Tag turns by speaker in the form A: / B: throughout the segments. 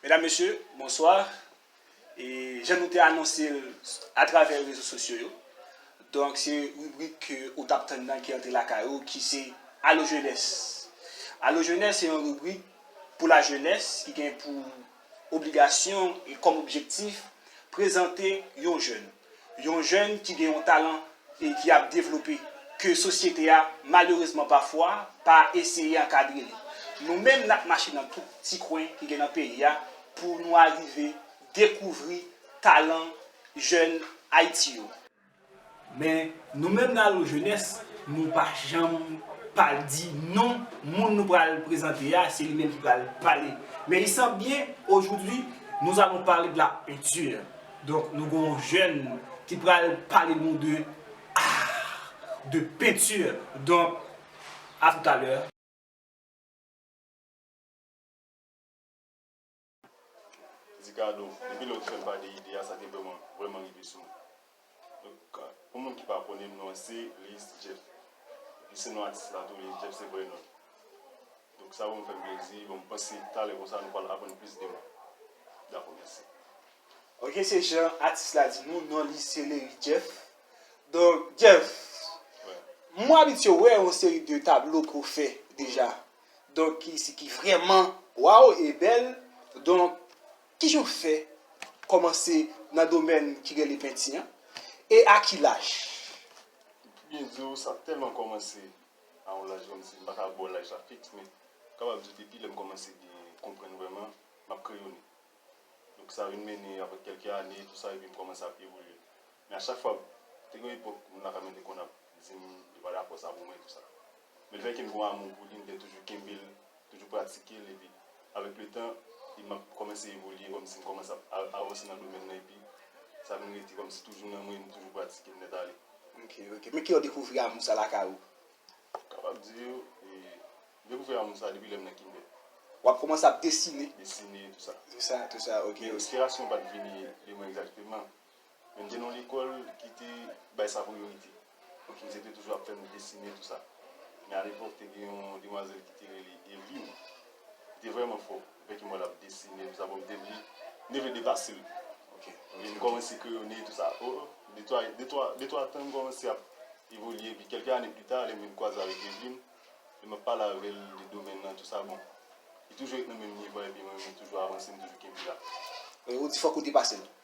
A: Medam mesye bonswa e jan nou te anonse l a travè rezo sosyo yo donk se ribrik ke ou tap tann nan ki antre lakay ou ki se alo jenès alo jenès se yon ribrik pou la jenès ki gen pou Obligasyon e kòm objektif, prezante yon jèn, yon jèn ki gen yon talan e ki ap devlope, ke sosyete a malerezman pafwa pa eseye ankadre li. Nou menm n ap mache nan tout ti kwen ki gen nan peyi a pou nou arive dekouvri talan jèn Ayiti yo. Men nou menm nan Allo Jeunesse nou pa janm pa di non moun nou pral prezante a se li menm ki pral pale. Men il semble bien aujourd'hui nous allons parler de la peinture. Donk nou gen yon jèn ki pral pale nou de art, de peinture. Donk a tout à l'heure.
B: di kado depi lè ou te fèm pa de ide a sa te vreman vreman rive sou mwen donk pou moun ki pa konnen m non an se Leyis Jeff epi se non atis la tou Leyis Jeff se vrè non m donk sa vreman fèm plezi bon m panse talè konsa nou pral aprann plis de mwen dakò mèsi. Ok
A: se jan atis la di nou non li se Leyis Jeff donk Jeff m abitye wè yon seri de tablo ke w fè deja. Donk ki si ki vrèman waw e bèl donk ki jan w fè kòmanse nan domèn ki rele penti an e a ki laj? M pi
B: byen di w sa tèlman kòmanse a yon laj kòmsi m pa ka ba w laj la fiks men m kapab di w depi lè m kòmanse byen konprann vrèman m ap kreyone donk sa vin mennen aprè kèlke ane tou sa epi m kòmanse ap evolye men a chak fwa te gen yon epòk moun la ka mèt te konn ap di m yo pa dakò sa pou mwen tou sa. Men lefètke m gen amou pou li, m te toujou kenbe l, toujou pratike l epi avèk letan epi m ap kòmanse evolye kòmsi m kòmanse ap avanse nan domèn nan epi sa vin rete kòmsi toujou nan mwen, m toujou pratike l nèt ale. Ok, ok. Men kilè
A: w dekouvri amou sa lakay ou? M kapab
B: di yo, e, m dekouvri amou sa depi lè m nan kindè. W ap kòmanse
A: ap desine? Desine, tou sa. Tou
B: sa, tou sa, ok. Men
A: enspirasyon an pa t vini
B: de mwen egzakteman. Men m te nan yon lekòl ki te bay sa priyorite. Pwofesè te toujou ap fè nou desine tou sa. Men alepòk te gen yon demwazèl ki te rele Evlin. Li te vrèman fò. Dèfè ki m wè l ap desine tou sa bon m te vle m te vle depase l. M vin kòmanse kreyone tou sa. O de twa tan m kòmanse ap evolye epi kèlke ane pita lè m vin kwaze avèk Evlin, lè m ap pale avè l de domèn nan tou sa bon li toujou ret nan menm nivo a epi mwen menm m toujou avanse m toujou kenbe la. Ou di fòk
A: ou depase l.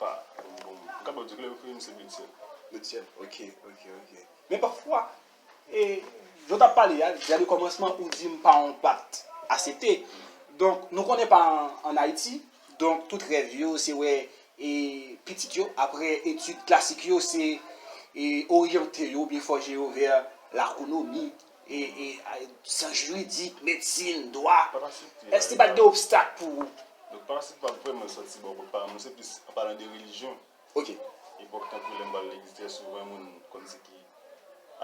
B: Pa yon bon moun. M kapab di klè ke m se Betsyèn. Betsyèn, ok,
A: ok, ok. Men pafwa, e, jan w t ap pale a, deja de kòmansman ou di m pa yon pat asepte. Donk, nou konnen pa an Ayiti, donk tout rèv yo se wè e pitit yo apre etid klasik yo se e oryante yo oubyen fòje yo vè lakonomi. Syans jiridik, medsin, dwa. Èske li pa t gen obstak pou ou? Donk pa se pa
B: vreman sòti bò kot paran mwen, se plis an palan de relijyon. Ok. Epòk
A: tankou
B: lè m pral legliz trè souvan moun konn di ki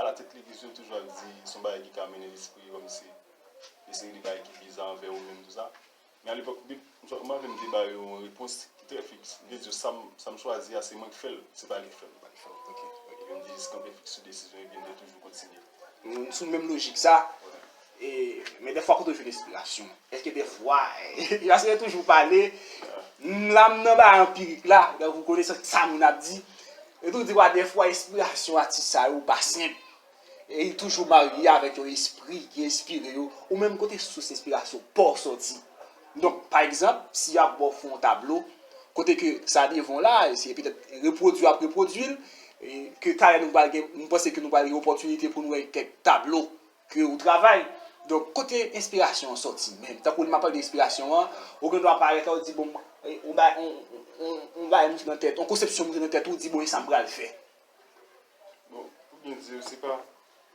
B: ala tèt legliz yo toujou ap di son bagay ki ka mennen lespri yo kòmsi yon seri de bagay ki biza anvè ou menm tou sa. Men alepòk bib, m sot manje m te ba yo yon repons ki trè fiks. M te di yo sa m sa m chwazi a se mwen k fè l, se pa li k fè m. Pa li k fè m. Ok. Ok.
A: Epi m te jis
B: kanpe fiks sou desizyon epi m te toujou kontinye. M sou menm lojik sa.
A: E, men dèfwa kote w jwenn enspirasyon w? Èske dèfwa, paske yo toujou pale, m la m nan bagay anpirik la, donk ou konnen sa moun ap di. Yo toujou di wa dèfwa enspirasyon atis sa yo pa senp. E li toujou marye avèk yon espri ki enspire yo, ou menm kote sous enspirasyon pa w sòti. Donk, pa egzanp, si y ap ba w fon yon tablo, kote ke sa devan w la, se petèt repwodui y ap repwodui l, ke talè nou pral gen, m panse ke nou pral gen opòtinite pou nou wè kèk tablo ke ou travay. Donk, kote enspirasyon an sòti menm? Tankou lè m ap pale de enspirasyon an, ou gen dwa parèt la, ou di bon, yon bagay, yon bagay monte nan tèt, yon konsepsyon monte nan tèt ou, ou di bon e sa m pral fè.
B: Bon, pou byen di yo, se pa,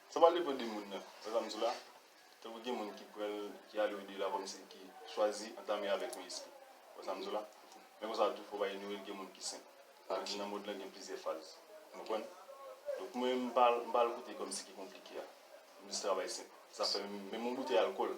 B: sa pa depan de moun nan, sa sa m di la, tankou gen moun ki pran l, ki ale odela kòm si ki chwazi antame avèk yon espri, ou wè sa m di w la, men konsa tou fò w pa inyore l gen moun ki senp, sa vle di nan mond lan gen plizyè faz, ou konprann, donk mwen m pa al kote kòm si ki konplike a, m jis travay senp, sa fè menm yon boutèy alkòl,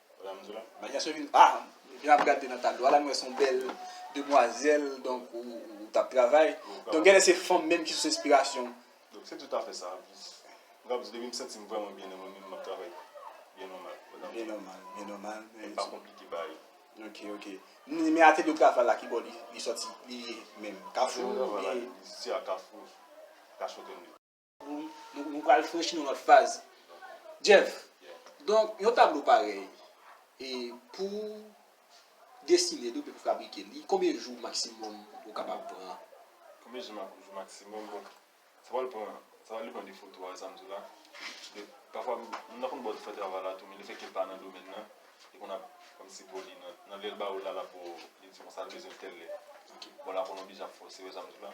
B: Manyas yo
A: vin ah jan ap gade nan tablo a la m wè son bèl demwazèl donk ou tap travay donk genlè se fanm menm ki sous enspirasyon w. Donk se tout afè
B: sa anplis m kapab di depi m santi m vrèman byen nan mwen menm m ap travay byen nòmal pandan byen nòmal byen nòmal
A: e pa konplike
B: bagay ok ok
A: men atelye w travay la kibò li sòti li ye menm kafou ou byen atelye m travay la li soti a
B: kafou kafou tènde.
A: Nou pral franchi yon lòt faz. Jeff, donk yon tablo parèy, e pou w desine li oubyen pou w fabrike li, konbyen jou maksimòm ou kapab pran? Konbyen jou
B: maksimòm? Bon, sa pral pran, sa pral depan de foto a, sa m di w la. Paske, pafwa, moun nan konn ba w ti fè travay la tou, men lefètke l pa nan domèn nan, li konn ap kòmsi bo li nan, nan lè l ba w la, l ap ba w, li di w konsa l bezwen l tèl lè. Bon, la konn oblije ap fòse, ou wè sa m di w la.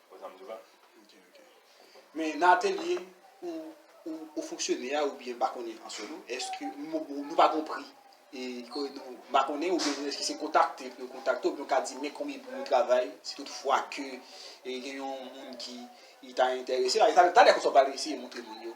B: Wè sa m di w la? Ok, ok.
A: Men nan atelye ou fonksyone a oubyen pa konnen an solo, èske nou pa gon pri e ke nou pa konnen oubyen nou eske se kontakte pou yo kontakte w pou yo ka di men konbyen pri yon travay si tout fwa ke gen yon moun ki ta enterese. Talè konsa w pral eseye montre moun yo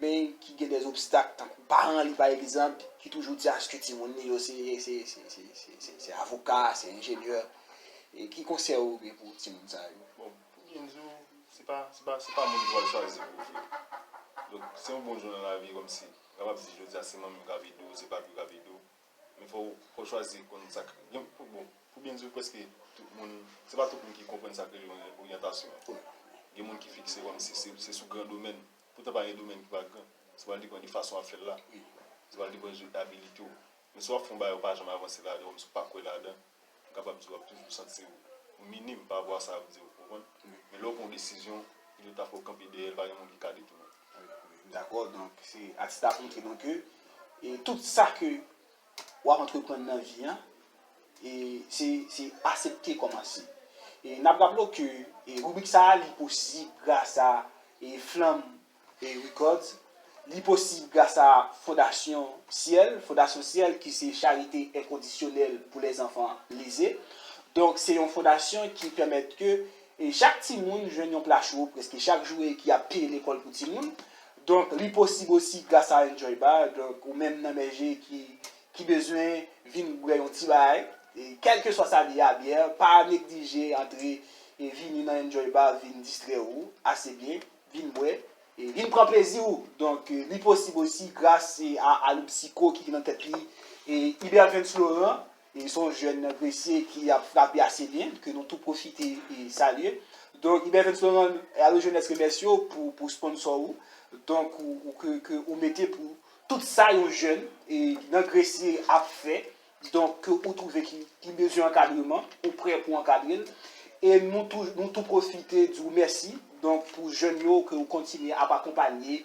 A: men ki gen des obstak tankou paran li pa egzanp ki toujou di aske timoun li yo se avoka, se enjenyè, ki konsèy ou gen pou timoun sa yo? Bon, pou byen
B: di w, se pa moun ki pral chwazi pou w jwe. Donk, se yon bon jou nan lavi kòmsi, ou kapab di jodi a se manmi w k ap ede w, se papi w k ap ede w, men fò w chwazi konn sa k, bon, pou byen di w prèske tout moun, se pa tout moun ki konprann sa k rele oryantasyon. Gen moun ki fikse kòmsi se sou gran domèn. Poutan pa gen domèn ki pa gran. Se pral depan de fason wap fèl la. Se pral depan de abilite w. Men si wap fè yon bagay ou pa janm avanse ladan oubyen si w pa kwè ladan, m kapab di wap toujou santi w minim pa rapò a sa yap di w, ou konprann? Men lè w pran yon desizyon, pito ta fè w kanpe dèyè l, pa gen moun ki ka detounen w. M dakò, donk
A: se atis la ap montre nou ke tout sa ke wap antreprann nan vi an e se se asepte kòmanse. E nap raple w ke e ribrik sa a li posib gras a e Flanm e Records, li posib gras a Fondasyon Syèl, Fondasyon Syèl ki se charite enkondisyonèl pou lèzanfan leze. Donk se yon fondasyon ki pèmèt ke E chak timoun jwenn yon pla cho prèske chak jou e ki ap peye lekòl pou timoun. Donk li posib osi gras a Enjoy Bar. Donk ou menm nan Mèje ki ki bezwen vin bwè yon ti bagay, e kèlkeswa sa li ye a byè, pa neglije antre e vini nan Enjoy Bar vin distrè ou ase byen, vin bwè e vin pran plezi ou. Donk li posib osi gras a Aloupsyco ki nan tèt li e Ibervens Laurent. E son jèn nan gresye ki ap frape ase byen ke nou tou pwofite e salye. Donk Ibervens Laurent e Alo Jenès remèsye yo pou pou sponsò ou donk ou ke ke ou mete pou tout sa yon jèn e nan gresye ap fè donk ke ou twouve ki ki bezwen ankadreman ou prè pou ankadre l e nou tou nou tou pwofite di w mèsi donk pou jèn yo ke ou kontinye ap akonpanye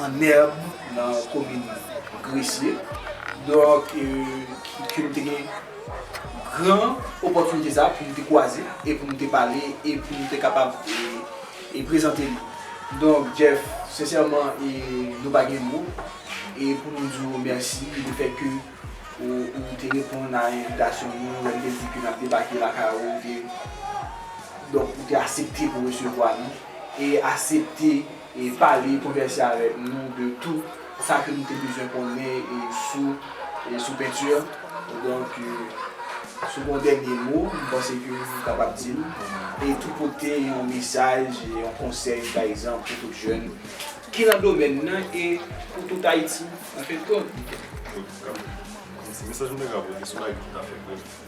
A: An èb nan komin Gresye. Donk ke m te gen gran opòtinite sa pou m te kwaze e pou m te pale e pou m te kapab e prezante li. Donk Jeff, sensèman e nou pa gen mo e pou nou di w mèsi le fèt ke ou te reponn a envitasyon nou lè n te di ke n ap debake lakay ou. Donk ou te asepte pou resevwa nou e asepte. E pale, konvèse avèk nou de tou sa ke nou te bezwen konnen sou sou penti an. Donk, si w gen yon dènye mo, m panse ke ou kapab di l. E tou pote yon mesaj, yon konsèy pa egzanp pou tout jèn ki nan domèn nan e pou tout Ayiti anfendkont.
B: Mesaj mwen ta ka pote sou Ayiti ta fè grèv.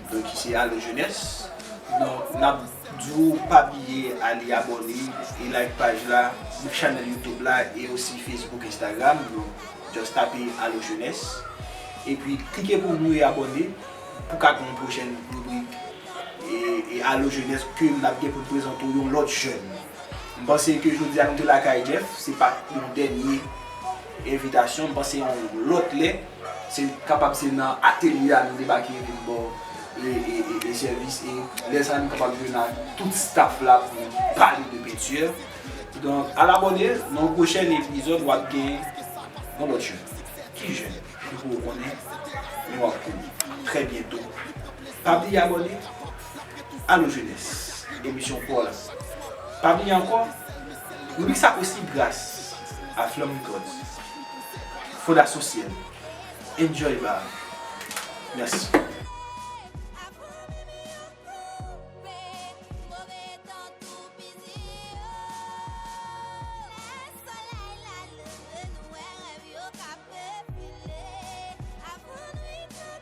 A: ki se alo jenès non nap diw pa bliye ale abòne e like paj la nou chanèl youtube la e osi facebook instagram nou just tape alo jenès epi klike pou nou e abòne pou ka gen yon pwochèn ribrik e alo jenès ke nap gen pou prezante w yon lòt jèn m panse ke jodi a nou te lakay Jeff se pat yon dènye envitasyon m panse yon lòt lè. Se kapab se nan atelye a nou debake vin ba w e sèvis e lè sa nou kapab jwenn ak tout staff la pou pale de peinture. Donk al abòne nan yon pwochèn epizòd wap gen yon lòt jèn ki jèn ki poko konnen men wap konnen trè byento. Pa bliye abòne. Alo jenès, emisyon pòz pa vini ankò, ribrik sa posib gras a Flanm Records, Fondasyon Syèl, Enjoy Bar. Mèsi.